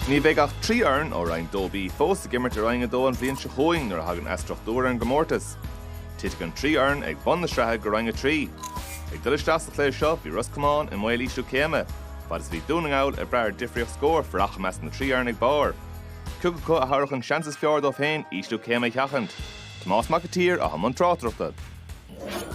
Ní bheidh ach trí fhoireann ó Roinn 2B fós ag imirt i Roinn 2 an bhliain seo chugainn nuair a thagann athstruchtúr ar an gcomórtas. Titfidh an trí fhoireann ag bun na sraithe go Roinn 3. Ag dul isteach sa chluiche seo bhí Ros Comáin i mbaol ísliú céime, fad is a bhí Dún na nGall ag brath ar difríocht scór fanacht i measc na trí fhoireann ag barr Cé acu a thabharfadh an seans is fearr dóibh féin ísliú céime a sheachaint? Tomás Mac an tSaoir atá i mbun tráchtaireachta.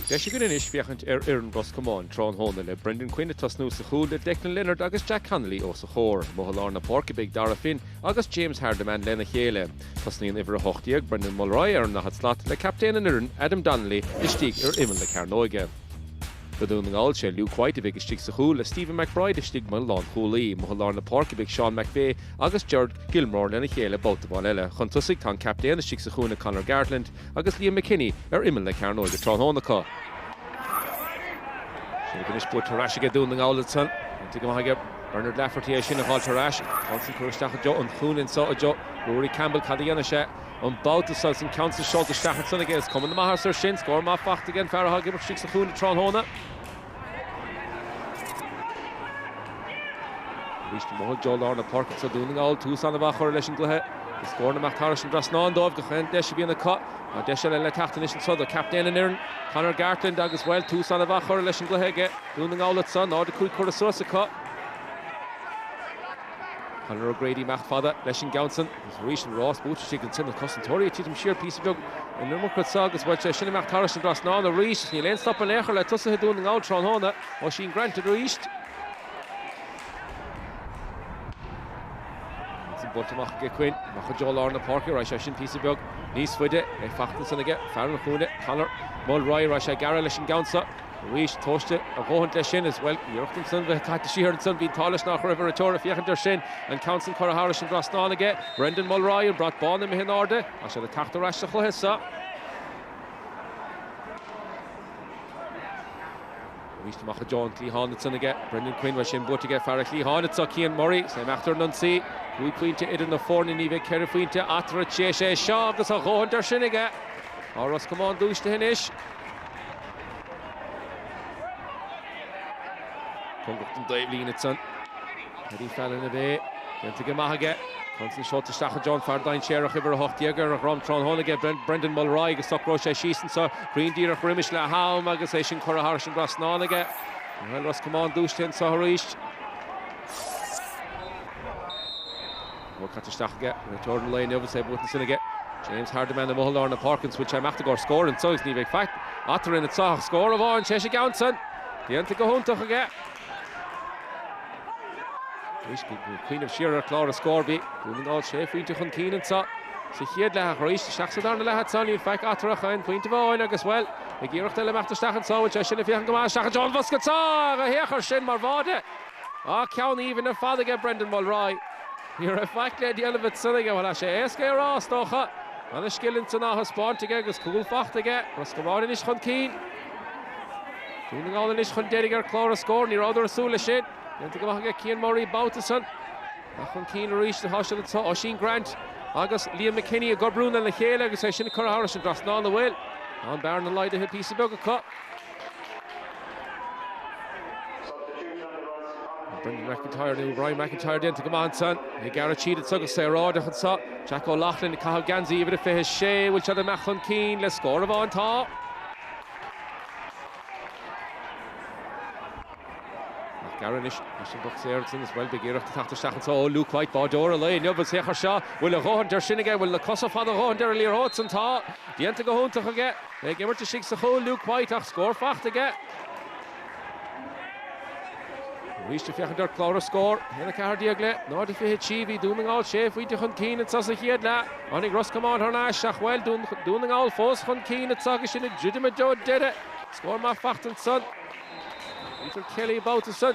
Deis againn anois féachaint ar fhoireann Ros Comáin tráthnóna le Brendan Quinn ag tosnú sa chúl le Declan Leonard agus Jack Connolly os a chomhair. Amuigh i lár na páirce beidh Darragh Finn agus James Hardiman lena chéile. Tosnaíonn uimhir 18, Brendan Mulry, ar an ndaichead slat le captaen an fhoireann, Adam Donnelly, istigh ar imeall na cearnóige. Do Dhún na nGall sé Luke White a bheidh istigh sa chúl le Stephen McBride istigh mar lánchúlaí. Amuigh i lár na páirce beidh Seán McVeigh agus Gerard Gilmore lena chéile babhta amháin eile. Chun tosaigh tá an captaen istigh sa chúinne Conor Gartland, agus Liam McKinney ar imeall na cearnóige tráthnóna acu. Sin againn anois buaite ar ais aige Dún na nGall ansan. Déanta go maith aige Bernard Lafferty é sin a dh'fháilt ar ais. An ceann san curtha isteach i dtreo an chúinne anso i dtreo Ruairí Campbell cad a dhéanfaidh sé an babhta seo agus an ceann san seolta isteach ansan aige. Is cuma na maitheasa air sin. Scór maith fachta ag an fear atá ag imirt istigh sa chúinne tráthnóna. Arís amach i dtreo lár na páirce anso Dún na nGall tús an-mhaith á chur leis an gcluiche agus scóranna ag imeacht thairis an dtrasnán dóibh gach aon deis a bhíonn acu. Tá deis eile le teacht anois anseo do captaen an fhoireann, Conor Gartland agus, bhuel, tús an-mhaith á chur leis an gcluiche aige Dún na nGall anseo, 0-5 curtha suas acu. Conor O'Grady ag imeacht fada leis an gceann san. Arís an rás buaite aige ansin, na cosantóirí ag titim siar píosa beag an iomarca anso agus bhuel é sin ag imeacht thairis an dtrasnán arís. Níl aon stop in aon chor le tosaithe Dhún na nGall tráthnóna. Oisín Grant arís. Ansin buailte amach aige Quinn, amach i dtreo lár na páirce, raghaidh sé sin píosa beag níos faide, é fachta ansan aige fear an chúinne, Conor Mulry, raghaidh sé gearra leis an gceann so. Arís, tomhaiste a dhóthaint leis sin is, bhuel, iarracht ansan, bheith caite siar ansan, bhí an t-ádh leis nach raibh an réiteoir ag féachaint air sin. An ceann san curtha thairis an dtrasnán aige, Brendan Mulry, an brat bán imithe in airde, tá siad ag teacht ar ais sa chluiche so. Arís amach i dtreo an chliatháin ansan aige, Brendan Quinn, bhuel, sin buaite aige, fear an chliatháin anso, Cian Murray, is é ag imeacht ar an ionsaí, cúig phointe idir na foirne, ní bheidh ach ceithre phointe eatarthu tar éis é seo agus a dhóthaint air sin aige. Tá Ros Comáin dúisithe anois. Cóngarach don dtaobhlíne anso. Paddy Fallon ab ea é. Déanta go maith aige. An ceann san seolta isteach i dtreo an fear dainséarach uimhir 18 ar a dhrom tráthnóna aige Brendan Mulry agus socróidh sé síos anso. Cruinn díreach roimis leath-am agus é sin curtha thairis an dtrasnán aige. Bhuel Ros Comáin dúisithe anso arís. An bhfuil caite isteach aige? Réiteoir an lae inniu is é buailte ansin aige. James Hardiman i mbothar lár na páirce an bhfuil sé imeacht i gcomhair scóir anseo agus ní bheidh faic eatarthu ina sáthadh scór amháin sé sa gceann san déanta go hiontach aige cuimhnimh siar ar chlár an scóir bhí Dún na nGall sé phointe chun cinn anseo sa chéad leath ach arís isteach sa darna leath anseo níl faic eatarthu ach aon phointe amháin agus bhuel beidh iarracht eile imeacht isteach anseo bhfuil sé sin ag féachaint go maith isteach i dtreo an bhosca anseo go héagfar sin mar bháide Á ceann aoibhinn ar fad aige Brendan Mulroy. Ní raibh faic le déanamh ag Sionnaigh, bhuel tá sé éasca é a rá is dócha. Ana scil ansan á thaispeáint aige agus cúl faighte aige. Ros Comáin anois chun cinn. Dún na nGall anois chun deiridh ar chlár an scóir. Ní rabhadar ag súil le sin. Déanta go maith aige Cian Murray babhta san. Ach chun cinn arís atá siad anseo. Oisín Grant agus Liam McKinney ag obriú lena chéile agus é sin curtha thar an dtrasnán a bhfuil. Tá an bearna laghdaithe píosa beag acu. Brendan McIntyre nó Rory McIntyre déanta go maith ansan. Ag gearradh tríd anseo go saoráideach anseo. Jack O'Loughlin ag caitheamh geansaí uimhir a 26. An bhfuil siad ag imeacht chun cinn le scór amháin? Tá. Gearradh anois isteach sa bhosca agus bhuel beidh iarracht teacht isteach anseo ó Luke White, báireoir an lae inniu. An saor seo, bhfuil a dhóthain d'fhad air sin aige? An bhfuil na cosa fada dhóthain ar an liathróid ansan? Tá. Déanta go hiontach aige. Ag imirt istigh sa chúl Luke White ach scór faighte aige. Arís ag féachaint ar chlár an scóir. 1, 14 le 0, 23. Bhí Dún na nGall sé phointe chun cinn anseo sa chéad leath. Tháinig Ros Comáin thar n-ais ach, bhuel, Dún na nGall fós chun cinn anseo agus sinn ag druidim go deireadh. Scór maith faighte ansan ag Peter Kelly an babhta san.